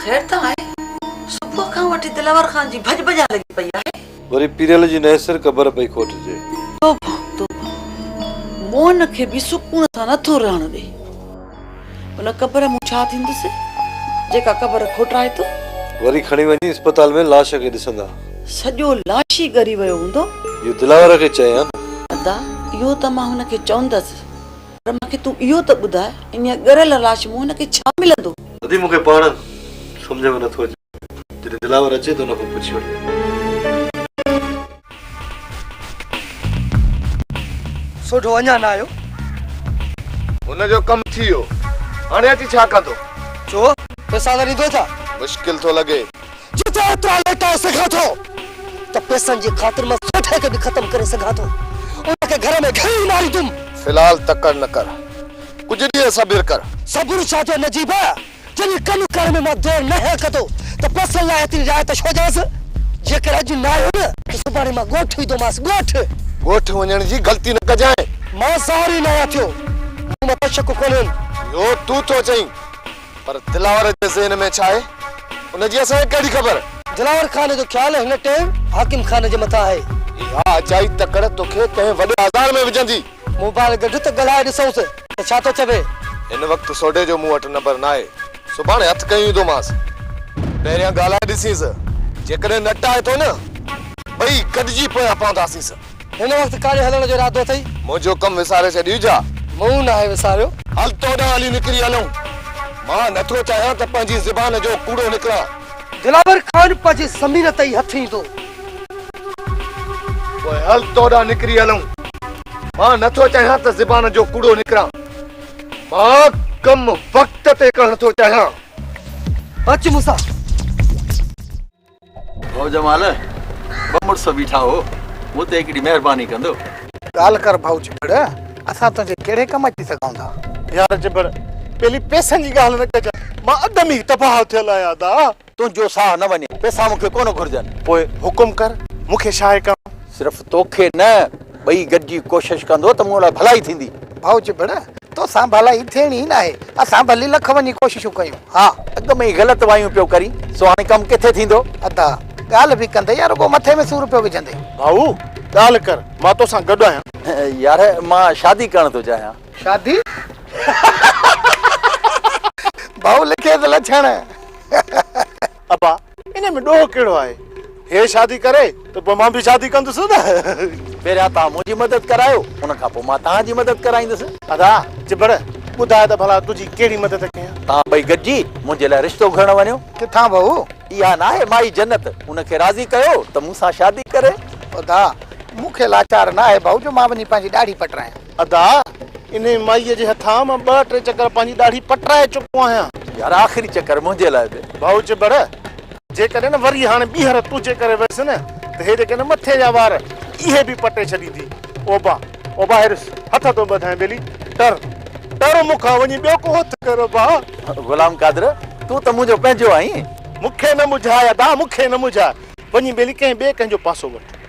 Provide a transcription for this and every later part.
خير ته آهي صبح کان وٺي دلاور خان جي ڀڄ ڀڄان لڳي پئي آهي. وري پيريل جي نئين سر قبر پئي کوٽجي. توبه توبه موهن کي به سڪون سان نٿو رهڻ ڏي. ان قبر مون ڇا ٿيندس، جيڪا قبر کوٽرائي ٿو. وري کڻي وڃي اسپتال ۾ لاش کي ڏسندا. سڄو لاش ئي ڳري ويو هوندو. اهو دلاور کي چئي ها نه. ادا، اهو ته مان هن کي چوندس، پر مان کي تون اهو ته ٻڌاء، انهيء ڳريل لاش مون هن کي ڇا ملندو؟ ادي، مون کي پاڻ سمجهه ۾ نٿو اچي. جڏهن دلاور اچي ته ان کان پڇي وٺجي. سوڍو اڃا نه آيو. هن جو ڪم ٿي ويو. هاڻي اچي ڇا ڪندو؟ ڇو؟ پيسا نه ڏيندو ڇا؟ مشڪل ٿو لڳي. جتي ايترا ليٽائي سگهان ٿو ته پيسن جي خاطر مان سوڍي کي به ختم ڪري سگهان ٿو. ان کي گهر ۾ گهڙي ماريندم. في الحال تڪڙ نه ڪر. ڪجهه ڏينهن صبر ڪر. صبر ڇا جو نجيب! جڏهن ڪم ڪرڻ ۾ مان دير ناهيان ڪندو ته پيسن لاء ايتري رعايت ڇو ڏيانس؟ جيڪر اڄ نه آيو نه ته سڀاڻي مان ڳوٺ ويندومانس، ڳوٺ! ڳوٺ وڃڻ جي غلطي نه ڪجانء. مان سواري ئي ناهيان ٿيو، مون مان تشڪ ڪونهين. اهو تون ٿو چئين، پر دلاور جي ذهن ۾ ڇا آهي، ان جي اسان کي ڪهڙي خبر؟ دلاور خان جو خيال هن ٽيم حاڪم خان جي مٿان آهي. اها اجائي تڪڙ توکي ڪنهن وڏي آزار ۾ وجهندي. موبائل گڏ ته ڳالهائي ڏسئونس ته ڇا ٿو چوي. هن وقت سوڍي جو مون وٽ نمبر ناهي، سڀاڻي هٿ کنيو ايندومانس. پهريان ڳالهائي ڏسينس، جيڪڏهن نٽ آئي ٿو نه، ٻئي گڏجي پويان پونداسينس. هن وقت ڪاڏي هلڻ جو ارادو اٿئي؟ منهنجو ڪم وساري ڇڏيو ڇا؟ مون ناهي وساريو. هل تو ڏانهن هلي نڪري هلون. مان نٿو چاهيان ته پنهنجي زبان جو ڪوڙو نڪران. دلاور خان پنهنجي زمين تي ئي هٿ ايندو. پوء هل تو ڏانهن نڪري هلون. مان نه ٿو چاهيان ته زبان جو ڪوڙو نڪران. مان ڪم وقت تي ڪرڻ ٿو چاهيان. اچ مون سان. ڀؤ جمال، ٻه مڙس بيٺا هو، مون تي هڪڙي مهرباني ڪندو؟ ڳالهه ڪر ڀؤ چٻڙ، اسان تنهنجي ڪهڙي ڪم اچي سگهون ٿا؟ يار چٻڙ، پيلي پئسن جي ڳالهه نه ڪجانء، مان اڌ ۾ ئي تباهه ٿيل آهيان ادا. تنهن جو ساهه نه وڃي. پئسا مون کي ڪونه گهرجن. پوء حڪم ڪر، مون کي شاهي ڪرڻ. صرف تو کي نه، ٻئي گڏجي ڪوشش ڪندو ته مون لاء ڀلائي ٿيندي. ڀائو جبڙ، تو سان ڀلائي ٿيڻي ئي ناهي. اسان ڀلي لک وڃي ڪوششون ڪيون ها. اڳ ۾ ئي غلط وايون پيو ڪرين، سو هاڻي ڪم ڪٿي ٿيندو؟ ادا، ڳالهه به ڪندي يا رڳو مٿي ۾ سور پيو وجهندي؟ ڀائو، ڳالهه ڪر، مان تو سان گڏ آهيان. يار، مان شادي ڪرڻ ٿو چاهيان. شادي؟ ڀائو لکيس لڇڻ. ابا انهي ۾ ڏوهه ڪهڙو آهي. هي شادي ڪري ته پوء مان به شادي ڪندس نه. پهريان توهان منهنجي مدد ڪرايو ان کان پوء مان توهان جي مدد ڪرائيندس. ادا چٻڙ ٻڌاء ته ڀلا تنهنجي ڪهڙي مدد ڪيان. توهان ٻئي گڏجي منهنجي لاء رشتو گهرڻ وڃو. ڪٿان بهو؟ اها ناهي مائي جنت ان کي راضي ڪيو ته مون سان شادي ڪري. ادا مون کي لاچار ناهي بهو جو مان وڃي پنهنجي ڏاڙهي پٽرايان. ادا! انهيء مائيء جي هٿان مان ٻه ٽي چڪر پنهنجي ڏاڙهي پٽرائي چڪو آهيان. يار آخري چڪر منهنجي لاء به. ڀائو چٻڙ! جيڪڏهن وري هاڻي ٻيهر تنهنجي ڪري ويس نه ته هيڏي ڪنهن مٿي جا وار اهي به پٽي ڇڏيندي. اوبا! اوبا هيرس هٿ ٿو ٻڌائين ٻيلي! ٽر! ٽر مون کان وڃي ٻيو ڪو هٿ ڪر اوبا! غلام قادر! تون ته منهنجو پنهنجو آهين. مون کي نه مجهاء ادا! مون کي نه مجهاء! وڃي ٻيلي ڪنهن ٻئي ڪنهن جو پاسو وٺ.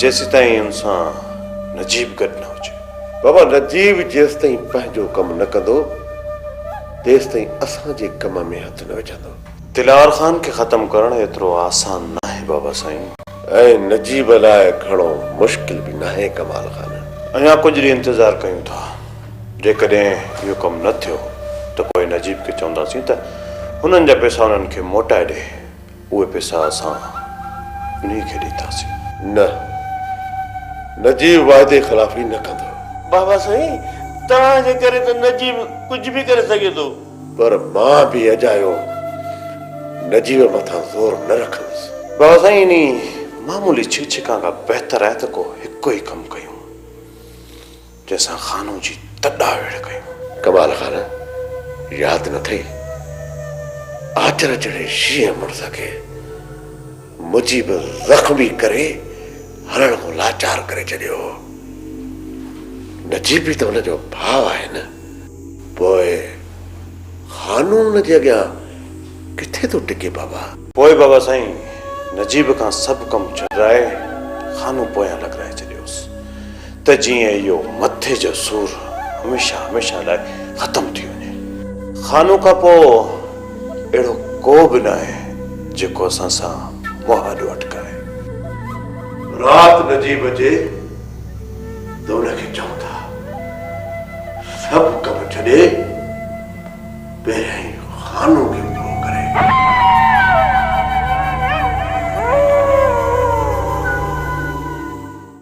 جيسيتائين ان سان نجيب گڏ نه هجي. بابا نجيب جيستائين پنهنجو ڪم نه ڪندو، تيستائين اسان جي ڪم ۾ هٿ نه وجهندو. دلار خان کي ختم ڪرڻ ايترو آسان ناهي بابا سائين. ۽ نجيب لاء گهڻو مشڪل به ناهي ڪمال خان. اڃا ڪجهه ڏينهن انتظار ڪيون ٿا. جيڪڏهن اهو ڪم نه ٿيو ته پوء نجيب کي چونداسين ته هنن جا پيسا انهن کي موٽائي ڏي. اهي پيسا اسان انهي کي ڏينداسين. نه. نجيب واعدي خلافي نه ڪندو. بابا سائين توهان جي ڪري ته نجيب ڪجهه به ڪري سگهي ٿو. پر مان به اجايو نجيب مٿان زور نه رکندس. بابا سائين انهي معمولي ڇڪ ڇڪان کان بهتر آهي ته ڪو هڪ ئي ڪم ڪيون. جنهن سان خانو جي تڏا ويڙهه ڪيو. قبال خان ياد نه ٿئي. آچر چڙهي شينهن مڙس کي مجيب زخمي ڪري هڻڻ کان لاچار ڪري ڇڏيو هو. نجيب به ته هن جو ڀاء آهي نه. پوء خانو ان جي اڳيان ڪٿي ٿو ٽڪي بابا. پوء بابا سائين نجيب کان سڀ ڪم ڇڏرائي خانو پويان لڳرائي ڇڏيوس. ته جيئن اهو مٿي جو سور هميشه هميشه لاء ختم ٿي وڃي. خانو کان پوء اهڙو ڪو به ناهي جيڪو اسان سان مهاڏو اٽڪائي. رات نجي بجي ته ان کي چئون ٿا سڀ ڪم ڇڏي پهريائين خانو کي پورو ڪري.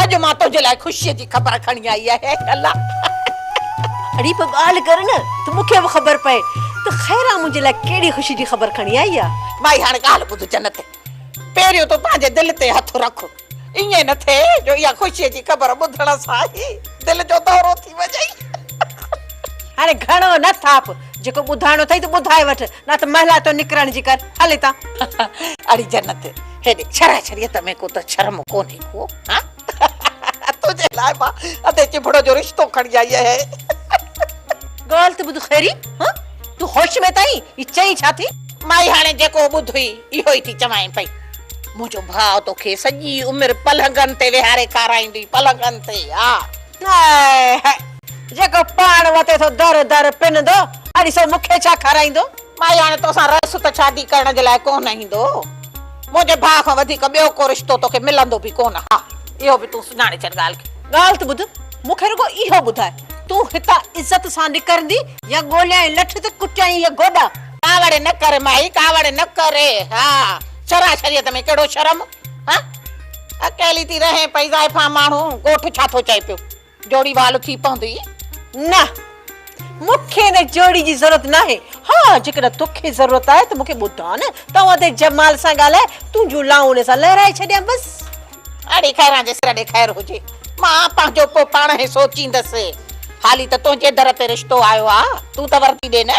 اڄ مان تنهنجي لاء خوشيء جي خبر کڻي آئي آهي اي الله. اڙي پوء ڳالهه ڪر نه ته مون کي به خبر پئي ته خيران منهنجي لاء ڪهڙي خوشي جي خبر کڻي آئي آ. مائي هاڻ ڳالهه ٻڌ جنت، پهريون تون پنهنجي دل تي هٿ رک، ائين نه ٿئي جو اها خوشيء جي خبر ٻڌڻ سان ئي دل جو دورو ٿي وڃئي. هاڻي گهڻو نه ٿاڦ، جيڪو ٻڌائڻو اٿئي ته ٻڌائي وٺ، نه ته مهلا ٿو نڪرڻ جي ڪر، هل هتان. اڙي جنت، هيڏي ڇرا ڇريت ۾ ڪو ته شرم ڪونهي ڪو هان تنهنجي لاء مان ادي چڀڙو جو رشتو کڻي آئي آهيان. ڳالهه ته ٻڌ خيري هان تون هوش ۾ ته آهين هي چئين ڇا ٿي. مائي هاڻي جيڪو ٻڌ هئي اهو ئي ٿي چوانء پئي منهنجو ڀاء توکي سڄي عمر پلنگن تي ويهاري کارائيندي پلنگن تي ها. هاء هاء جيڪو پاڻ وتي ٿو در در پنندو اڙي سو مونکي ڇا کارائيندو. مائي هاڻي توسان رهيس ته شادي ڪرڻ جي لاء ڪونه ايندو. منهنجي ڀاء کان وڌيڪ ٻيو ڪو رشتو توکي ملندو به ڪونه. ها اهو به تون سڃاڻي ڇڏ ڳالهه کي. ڳالهه ته ٻڌ، مون کي رڳو اهو ٻڌاء، تون هتان عزت سان نڪرندي يا ڳوليائين لٺ تي ڪٽيائين اهي گوڏا؟ ڪاوڙ نه ڪر مائي، ڪاوڙ نه ڪر. ها شرع شريعت ۾ ڪهڙو شرم. ها اڪيلي ٿي رهين پئي، زائفان ماڻهو، ڳوٺ ڇا ٿو چئي پيو. جوڙي وال ٿي پوندي. نه. مون کي ان جوڙي جي ضرورت ناهي. ها، جيڪڏهن تو کي ضرورت آهي ته مون کي ٻڌاء نه ته آئون ادي جمال سان ڳالهائي تنهنجون لائون ان سان لهرائي ڇڏيان بس. اڙي خيران جي سر ڏي خير هجي. مان پنهنجو پوء پاڻهين سوچيندس. هالي ته تنهنجي در تي رشتو آيو آ. تون ته وردي ڏي نه.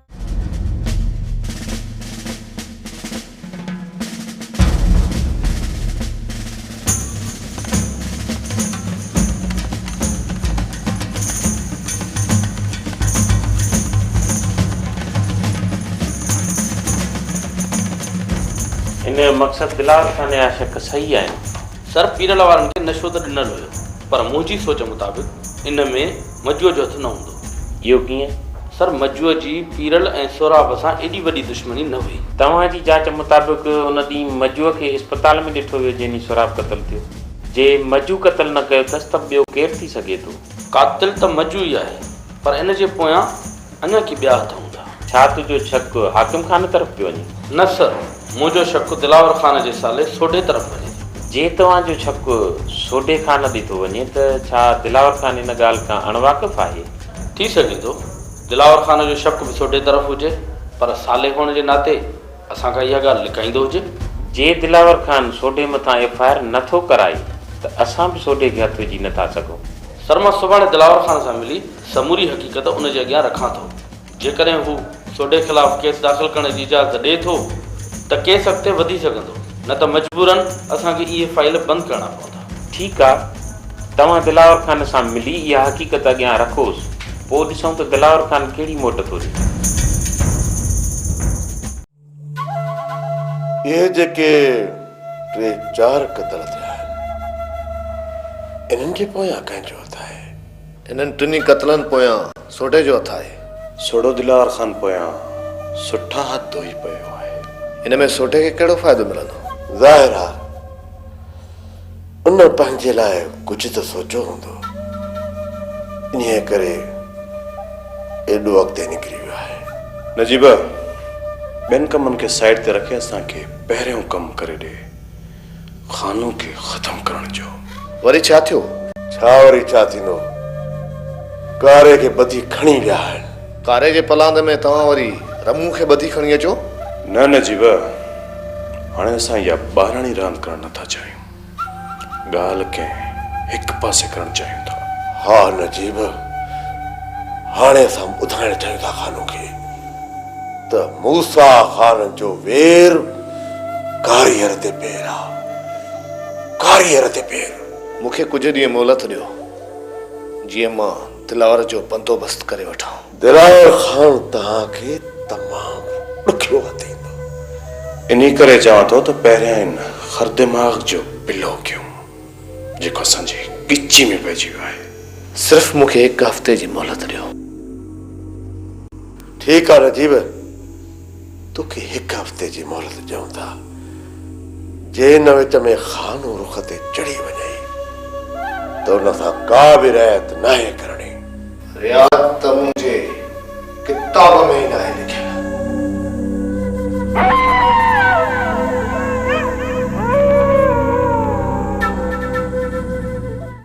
هن جو مقصد بلال خان جا شق صحيح آهن. سر پيرل وارن کي نشو ته ڏنل هيو پر منهنجي سوچ مطابق ان ۾ مجوء جو هٿ نه هوندو هو. اهو ڪيئن؟ سر، مجوء جي پيرل ۽ سهراب سان ايڏي وڏي دشمني نه هئي. توهان جي جاچ مطابق ان ڏينهن مجوء کي اسپتال ۾ ڏٺو ويو جنهن ڏينهن سهراب قتل ٿيو. جي مجوء قتل نه ڪيو اٿس ته ٻيو ڪير ٿي سگهي ٿو؟ قاتل ته مجوء ئي آهي پر ان جي پويان اڃا ڪي ٻيا هٿ هوندا. ڇا تنهنجو شڪ حاڪم خان طرف پيو وڃي؟ نه سر، منهنجو شڪ دلاور خان جي سالي سوڍي طرف وڃي ٿو. جي توهان جو شڪ سوڍي خان ڏي ٿو وڃي ته ڇا دلاور خان ان ڳالهه کان اڻ واقف آهي؟ ٿي سگهي ٿو، دلاور خان جو شڪ به سوڍي طرف هجي، پر سالي هئڻ جي ناتي اسان کان اها ڳالهه لڪائيندو هجي. جي دلاور خان سوڍي مٿان ايف آء آر نه ٿو ڪرائي ته اسان به سوڍي کي هٿ وجهي نه ٿا سگهون. سر، مان سڀاڻي دلاور خان سان ملي سموري حقيقت ان جي اڳيان رکان ٿو. جيڪڏهن هو سوڍي خلاف ڪيس داخل ڪرڻ جي اجازت ڏئي ٿو ته ڪيس اڳتي وڌي سگهندو، نه ته مجبوراً اسان کي اهي فائيل بند ڪرڻا پوندا. ٺيڪ آ، توهان دلاور خان سان ملي اها حقيقت اڳيان رکوس، پوء ڏسون ته دلاور خان ڪهڙي موٽ ٿو ڏي. اهي جيڪي ٽي چار قتل ٿيا آهن، انهن جي پويان ڪنهن جو هٿ آهي؟ انهن ٽنهي قتلن پويان سوڍي جو هٿ آهي. سوڍو دلار خان پويان سٺا هٿ ڌوئي پيو آهي. ان ۾ سوڍي کي ڪهڙو فائدو ملندو؟ ظاهر آ. ان پنهنجي لاء ڪجهه ته سوچيو هوندو، انهيء ڪري ايڏو اڳتي نڪري ويو آهي. نجيبه، ٻين ڪمن کي سائيڊ تي رکي اسان کي پهريون ڪم ڪري ڏي، خانو کي ختم ڪرڻ جو. وري ڇا ٿيو؟ ڇا وري ڇا ٿيندو، ڪاري کي ٻڌي کڻي ويا آهن. ڪاري جي پلاند ۾ توهان وري رمون کي ٻڌي کڻي اچو. نه نه جيب، هاڻي اسان اها ٻاراڻي راند ڪرڻ نه ٿا چاهيون. ڳالهه ڪنهن هڪ پاسي ڪرڻ چاهيون ٿا. ها نه جيب، هاڻي اسان ٻڌائڻ چاهيون ٿا خانو کي ته موسيٰ خان جو وير ڪاريهر تي پير آ. ڪاريهر تي پير. مون کي ڪجهه ڏينهن مهلت ڏيو، جيئن مان دلاور جو بندوبست ڪري وٺان. دلاور خان توهان کي تمام ڏکيو وتيندو. انهي ڪري چوان ٿو ته پهريان ان خر دماغ جو پلو ڪيون جيڪو اسان جي ڳچي ۾ پئجي ويو آهي. صرف مون کي هڪ هفتي جي مهلت ڏيو. ٺيڪ آهي نجيب. توکي هڪ هفتي جي مهلت ڏيون ٿا. جي ان وچ ۾ خانو رخ تي چڙهي وڃئي ته ان سان ڪا به رعايت ناهي ڪرڻي. رعايت ته منهنجي ڪتاب ۾ ئي ناهي لکيل.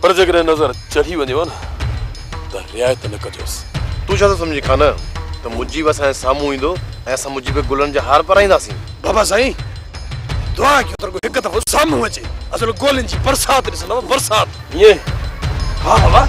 پر جيڪڏهن نظر چڙهي وڃيو ها نه ته رعايت نه ڪجوس. تون ڇا ٿو سمجهين خان ته مجيب اسان جي سامهون ايندو ۽ اسان مجيب کي گلن جا هار پرائينداسين. بابا سائين دعا ڪيو ته رڳو هڪ دفعو سامهون اچي اصل گولين جي برسات ڏسندم برسات. ائين ها بابا.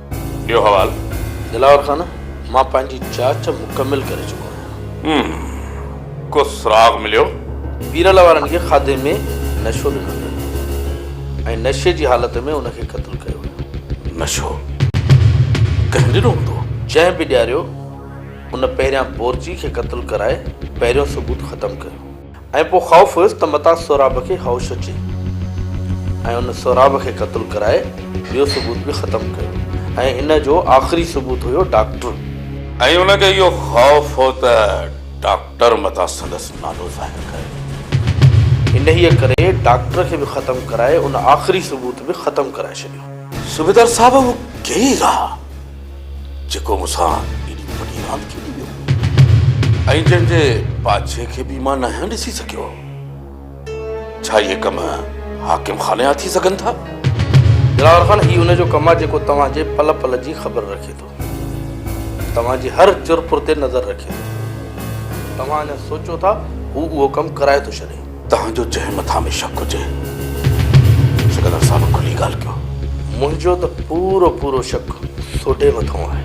ٻيو حوال؟ دلاور خان، مان پنهنجي جاچ مڪمل ڪري چڪو آهيان. هم. ڪو سراغ مليو؟ پيرل وارن کي کاڌي ۾ نشو ڏنل هيو ۽ نشي جي حالت ۾ ان کي قتل ڪيو ويو. نشو ڪنهن ڏنو هوندو؟ جنهن به ڏياريو، ان پهريان بورچي کي قتل ڪرائي پهريون ثبوت ختم ڪيو. ۽ پوء خوف هيس ته متان سهراب کي هوش اچي ۽ ان سهراب کي قتل ڪرائي ٻيو ثبوت به ختم ڪيو ۽ ان جو آخري ثبوت هيو ڊاڪٽر. ۽ ان کي اهو خوف هو ته ڊاڪٽر متان سندس نالو ظاهر ڪري. انهيء ڪري ڊاڪٽر کي به ختم ڪرائي ان آخري ثبوت به ختم ڪرائي ڇڏيو. صوبيدار صاحب اهو ڪيئي رها. جيڪو مون سان ايڏي وڏي راند کيڏي ويو ۽ جنهن جي پاڇي کي به مان ناهيان ڏسي سگهيو هوم. ڇا اهي ڪم حاڪم خان جا ٿي سگهن ٿا؟ دلال خان، هي ان جو ڪم آهي جيڪو توهان جي پل پل جي خبر رکي ٿو. توهان جي هر چرپر تي نظر رکي ٿو. توهان اڃا سوچيو ٿا هو اهو ڪم ڪرائي ٿو ڇڏي. توهان جو جنهن مٿان به شڪ هجي، سڪندر صاحب کلي ڳالهه ڪيو. منهنجو ته پورو پورو شڪ سوڍي مٿان آهي.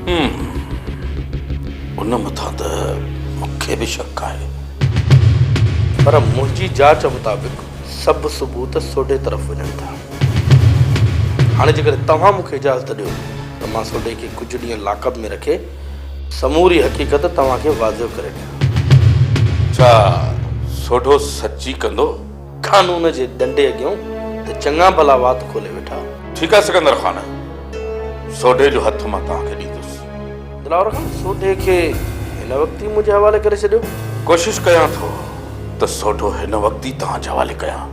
هوم، ان مٿان ته مون کي به شڪ آهي. پر منهنجي جاچ مطابق سڀ ثبوت سوڍي طرف وڃن ٿا. هاڻي جيڪڏهن توهان مون کي اجازت ڏيو ته مان سوڍي کي ڪجهه ڏينهن لاڪ اپ ۾ رکي سموري حقيقت توهان کي واضح ڪري ڏيان. ڇا سوڍو سچي ڪندو؟ قانون جي ڏنڊي اڳيون ته چڱا ڀلا وات کولي ويٺا. ٺيڪ آهي سڪندر خان، سوڍي جو هٿ مان توهان کي ڏيندس. دلاور خان، سوڍي کي هن وقت ئي منهنجي حوالي ڪري ڇڏيو. ڪوشش ڪيان ٿو ته سوڍو هن وقت ئي توهان جي حوالي ڪيان،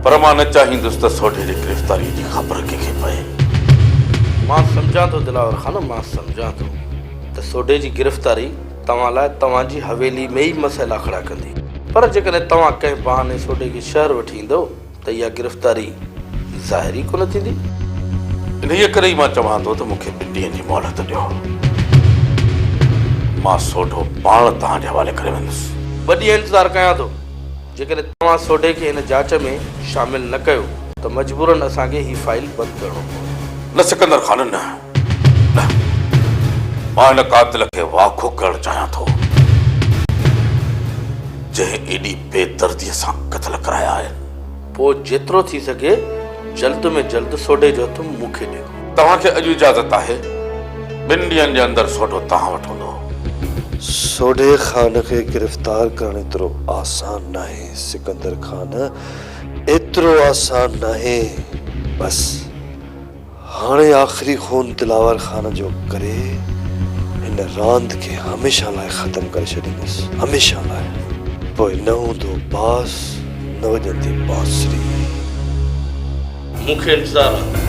پر مان نه چاهيندس ته سوڍي جي گرفتاريء جي خبر ڪنهن کي پئي. مان سمجهان ٿو دلاور خان، مان سمجهان ٿو ته سوڍي جي گرفتاري. توهان لاء توهان جي حويلي ۾ ئي مسئلا کڙا ڪندي. پر جيڪڏهن توهان ڪنهن بهاني سوڍي کي شهر وٺي ايندؤ ته اها گرفتاري ظاهر ئي ڪونه ٿيندي. انهيء ڪري ئي مان چوان ٿو ته مون کي ٻن ڏينهن جي مهلت ڏيو. مان سوڍو پاڻ توهان جي حوالي ڪري ويندس. ٻه ڏينهن انتظار ڪيان ٿو. جيڪڏهن توهان سوڍي کي هن جاچ ۾ شامل نه ڪيو ته مجبورن اسان کي هي فائيل بند ڪرڻو پوندو. نه سڪندر خان نه. نه، مان ان قاتل کي واکو ڪرڻ چاهيان ٿو، جنهن ايڏي بي درديء سان قتل ڪرايا آهن. پوء جيترو ٿي سگهي جلد ۾ جلد سوڍي جو هٿ مون کي ڏيو. توهان کي اڄ اجازت آهي. ٻن ڏينهن جي اندر سوڍو توهان وٽ هوندو. سوڍي خان کي گرفتار ڪرڻ ايترو آسان ناهي سڪندر خان، ايترو آسان ناهي. بس! هاڻي آخري خون دلاور خان جو ڪري هن راند کي هميشه لاء ختم ڪري ڇڏيندس. هميشه لاء. پوء نه هوندو باس نه وڄندي بانسري. مون کي انتظار آ.